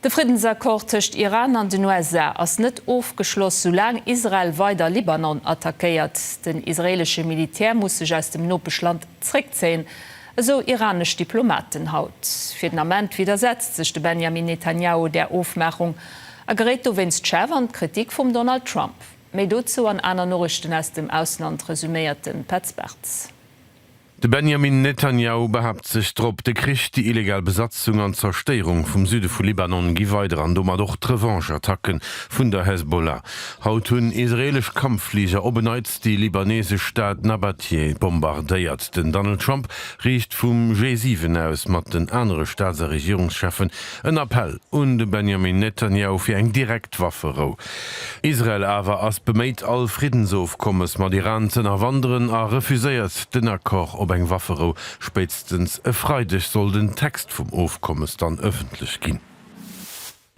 De Friddensaccord tëscht Iran an den USA ass net ofgeschloss, soulaang Israel weider Libanon attackéiert. Den israeelesche Militär muss sech aus dem Nopeschland zréckzéien, esou iranesch Diplomaten haut. Fir den Ament widdersetzt sech de Benjamin Netanyahu där Ofmaachung a geréit dowéinst schaarf an d'Kritik vum Donald Trump. Méi dozou an aner Noriichten aus dem Ausland, resuméiert de Petz Bartz. De Benjamin Netanjahu behaapt sech drop, de Krich, déi illegal Besatzung an d'Zerstéierung vum Süde vu Libanon gi weider an domat och d'Revanche-Attacke vun der Hezbollah. Haut hunn israeelesch Kampffliger op en Neits déi libaneesesch Stad Nabatjé bombardéiert. Den Donald Trump riicht vum G7 aus mat den anere Staats a Regierungscheffen En Appell un de Benjamin Netanyahu fir eng direkt Wafferou. Israel awer ass beméit all Friddensofkommes mat Iran z'ënnerwanderen a refuséiert den Accord op eng Wafferou. Spéitstens e Freideg soll den Text vum Ofkommes dann ëffentlech ginn.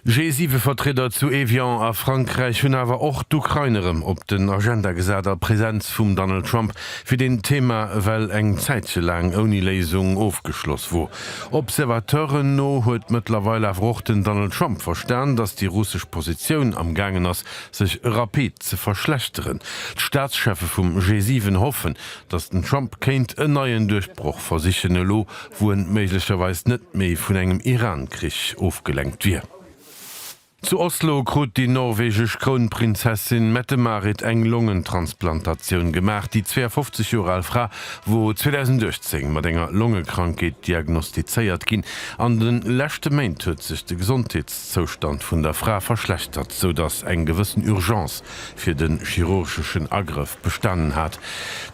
G7-Vertrieder zu Evian a Frankräich hunn awer och d'Ukrain erëm op den Agenda gesat, a Presenz vum Donald Trump, fir deen d'Thema well eng Zäitche laang ouni Léisung ofgeschloss wor. Observateuren no huet mëttlerweil awer och den Donald Trump verstan, datt déi russesch Positioun am gaangen ass sech rapid ze verschlechteren. D'Staatscheffe vum G7 hoffen, datt den Trump kéint en neien Duerchbroch versichen, elo wou en méiglecherweis net méi vun engem Iran-Krich ofgelenkt wier. Zu Oslo krut déi norwegesch Krounprinzessin Mette-Marit eng Longentransplantatioun gemaach. Déi 52 Joer al Fra wor 2018 mat enger Longekrankheet diagnostizéiert ginn. An de leschte Méint huet sech de Gesondheetszoustand vun der Fra verschlechtert, sou datt eng gewëssen Urgence fir de chirurgeschen Agrëff bestanen hat.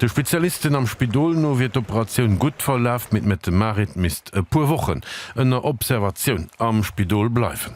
De Spezialisten am Spidol no wier d'Operatioun gutt verlaf, mee d'Mette-Marit misst e puer Wochen ënner Observatioun am Spidol bleiwen.